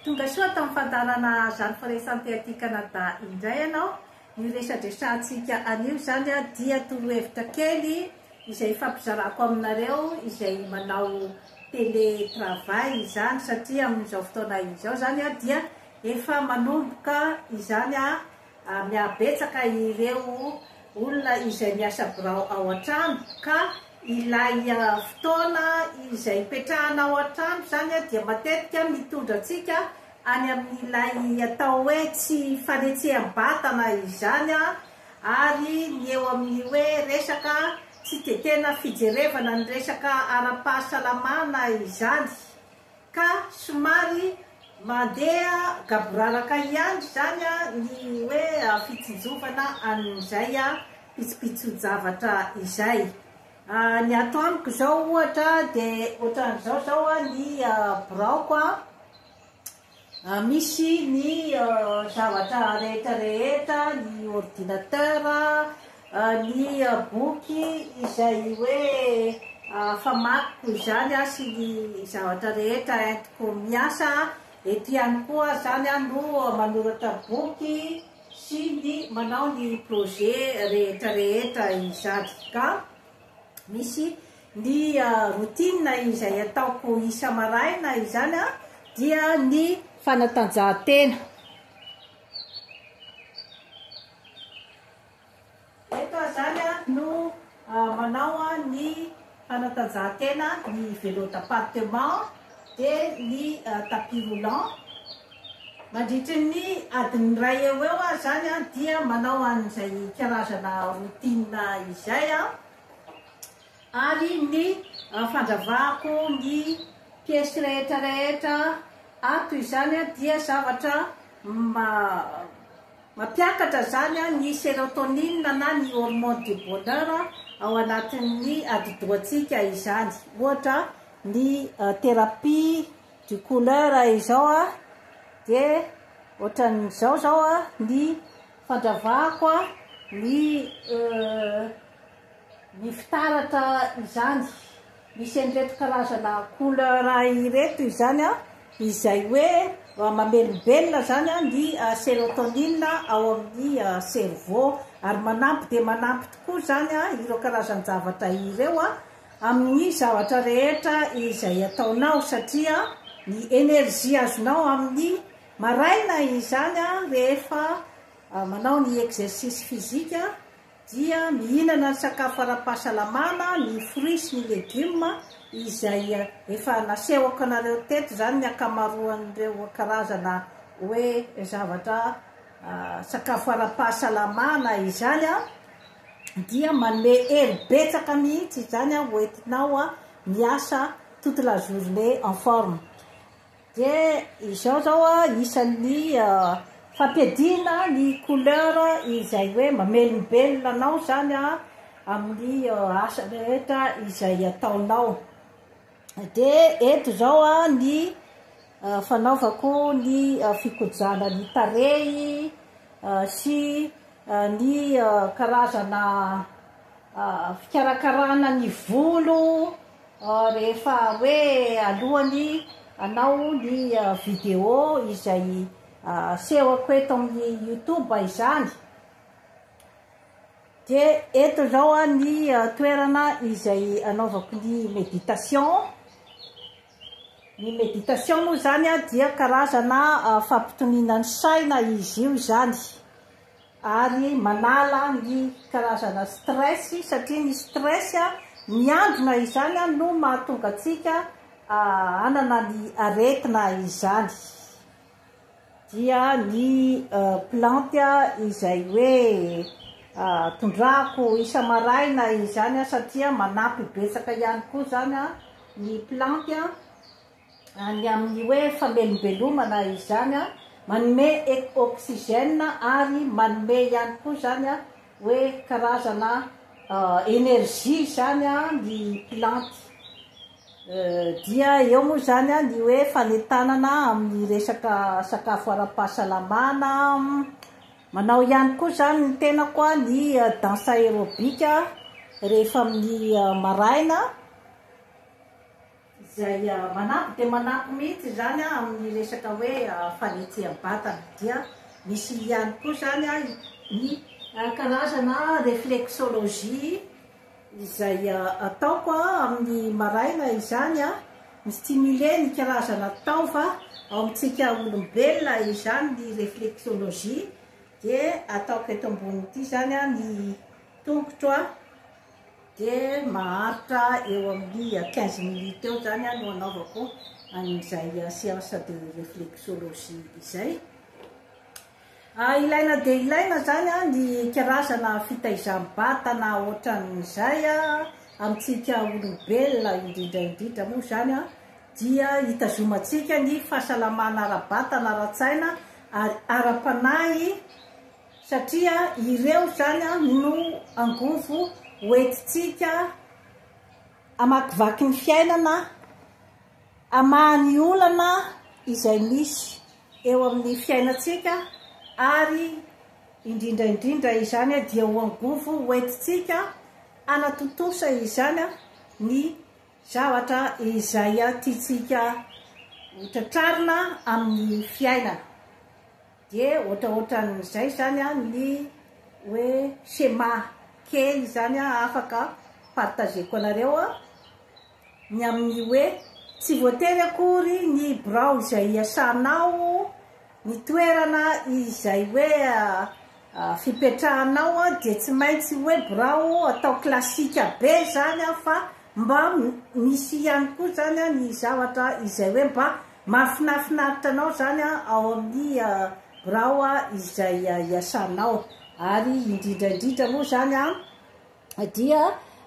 Tonga soa tamin'ny fandaharana Zany Fraissant Thé aty Canada indray ianao. Io resadresantsika anio izany dia torohevitra kely izay ifampizarako aminareo izay manao télé travail izany satria amin'izao fotoana izao izany dia efa manomboka izany ary mihabetsaka ireo olona izay miasa birao ao an-trano ka ilay fotoana izay hipetrahana ao an-trano izany dia matetika mitondra antsika any amin'ilay atao hoe tsy fanetseham-batana izany ary ny eo amin'ny hoe resaka tsy dia tena fijerevana ny resaka ara-pahasalamana izany. Ka somary mandeha gaboraraka ihany izany ny hoe fitsinjovana an'izay pitsopitson-javatra izay. Ny ato amiko izao ohatra dia ohatran'izao izao ny biraoko, Misy ny zavatra rehetra rehetra, ny ordinateur, ny boky izay hoe famakiko izany sy ny zavatra rehetra entiko miasa, ety ihany koa aho izany aho no manoratra boky sy ny manao ny projet rehetra rehetra izany ka. Misy ny routine izay ataoko isa-maraina izany dia ny fanatanjahantena. Eto aho izany no manao ny fanatanjahantena ny vélo d'appartement. dia ny tapis roulant, mandritry ny adiny iray eo eo aho izany dia manao an'izay karazana routine izay aho, ary ny fandravako ny piesy rehetra rehetra ato izany dia zavatra mampiakatra izany ny serotonine na ny hormone du bonheur ao anatin'ny atidohantsika izany, ohatra Ny thérapie du couleur izao a dia ohatran'izao zao a ny fandravako ny ny fitaratra izany misy an'ireto karazana couleur ireto izany a izay hoe mamelombelona zany ny sérotonine ao amin'ny cerveau ary manampy dia manampy tokoa zany ireo karazan-javatra ireo a amin'ny zavatra rehetra izay ataonao satria ny energie azonao amin'ny maraina izany rehefa manao ny exercice physique dia mihinana ny sakafo ara-pahasalamana ny fruits sy ny legumes izay efa nasehoko anareo teto izany ny ankamaroan'ireo karazana hoe zavatra sakafo ara-pahasalamana izany dia manome hery betsaka mihitsy izany ho entinao miasa toute la journée en forme. Dia izao zao isan'ny fampiadiana ny couleur izay hoe mamelombelona anao zany amin'ny asa rehetra izay ataonao. Dia eto izao ny fanaovako ny fikojana ny tarehy sy ny karazana fikarakarana ny volo rehefa hoe alohan'ny hanao ny vidéo izay asehoko eto amin'ny youtube izany. Dia eto izao ny toerana izay anaovako ny méditation. Ny méditation moa izany dia karazana fampitoniana ny saina izy io izany ary manala ny karazana stress satria ny stress miandrona izany no mahatonga antsika hanana ny aretina izany. dia ny planty izay hoe tondrahako isa-maraina izany satria manampy betsaka ihany koa izany ny planty ny amin'ny hoe famelombelomana izany, manome oxygène ary manome ihany koa izany hoe karazana énergie izany ny planty. Dia eo moa izany ny hoe fanentanana amin'ny resaka sakafo ara-pahasalamana, manao ihany koa izany ny tenako ny danse aerobique rehefa amin'ny maraina, izay manampy dia manampy mihintsy izany amin'ny resaka hoe fanetsehan-batana, dia misy ihany koa izany ny karazana reflexologie. Izay ataoko amin'ny maraina izany, mi-stimuler ny karazana taova ao amintsika olombelona izany ny reflexologie, dia ataoko eto ambony ity izany ny tongotro dia maharitra eo amin'ny quinze minutes eo izany no anaovako an'izay séance de reflexologie izay. Ilaina dia ilaina izany ny karazana fitaizam-batana ohatran'izay amintsika olombelona, indrindra indrindra moa izany dia hitazomantsika ny fahasalamana ara-batana, ara-tsaina ary ara-panahy satria ireo izany no angovo hoentintsika. Hamakivaky ny fiainana aho, hamaha ny olana izay misy eo amin'ny fiainantsika ary indrindra indrindra izany dia ho angovo ho entintsika hanatontosa izany ny zavatra izay tiantsika ho tratrarina amin'ny fiainana. Dia ohatraohatran'izay izany ny hoe schéma kely izany afaka partageko anareo ny amin'ny hoe tsy voatery akory ny birao izay iasanao, ny toerana izay hoe fipetrahanao dia tsy maintsy hoe birao atao classique be izany fa mba misy ihany koa izany ny zavatra izay hoe mba Mahafinafinaritra anao izany ao amin'ny birao izay iasanao. Ary indrindra indrindra moa izany dia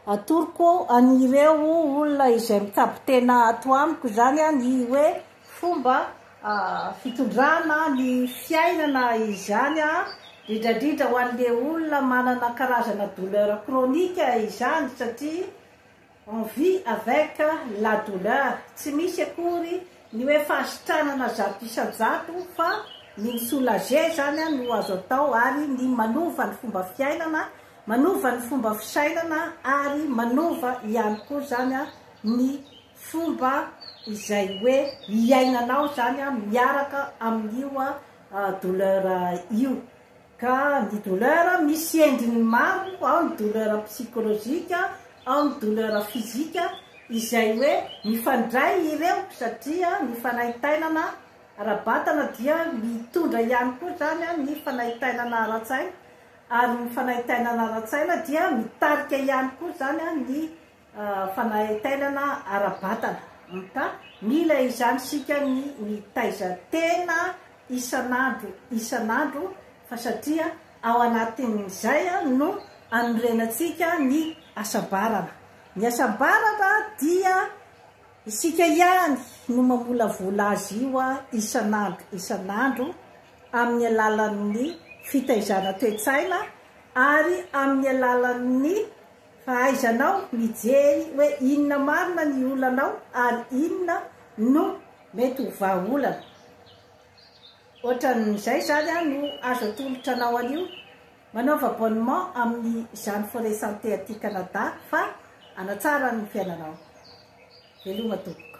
atoroko an'ireo olona izay mikabon-tena ato amiko izany ny hoe fomba fitondrana ny fiainana izany, indrindra indrindra ho an'ilay olona manana karazana douleur chronique izany satria On vit avec la douleur, tsy misy akory ny hoe fahasitranana zato isan-jato fa ny mi soulager zany no azo atao ary ny manova ny fomba fiainana, manova ny fomba fisainana ary manova ihany koa zany ny fomba izay hoe hiainanao zany miaraka amin'io douleur io. Ka ny douleur misy endriny maro, ao ny douleur psychologique, ao ny douleur physique, izay hoe mifandray ireo satria ny fanaintainana ara-batana dia mitondra ihany koa izany ny fanaintainana ara-tsaina, ary ny fanaintainana ara-tsaina dia mitarika ihany koa izany ny Fanahy tainana ara-batana. Anta, mila izany isika ny mitaiza tena isan'andro isan'andro fa satria ao anatin'izay no anorenantsika ny hasambarana. Ny hasambarana dia isika ihany no mamolavola azy io isan'andro isan'andro amin'ny alalan'ny fitaizana toe-tsaina ary amin'ny alalan'ny Fahaizanao mijery hoe inona marina ny olanao ary inona no mety ho vahaolana. Ohatran'izay izany no azo atolotra anao anio. Manaova abonnement amin'ny izany Forêt Santé aty Canada fa hanatsara ny fiainanao. Veloma tompoko.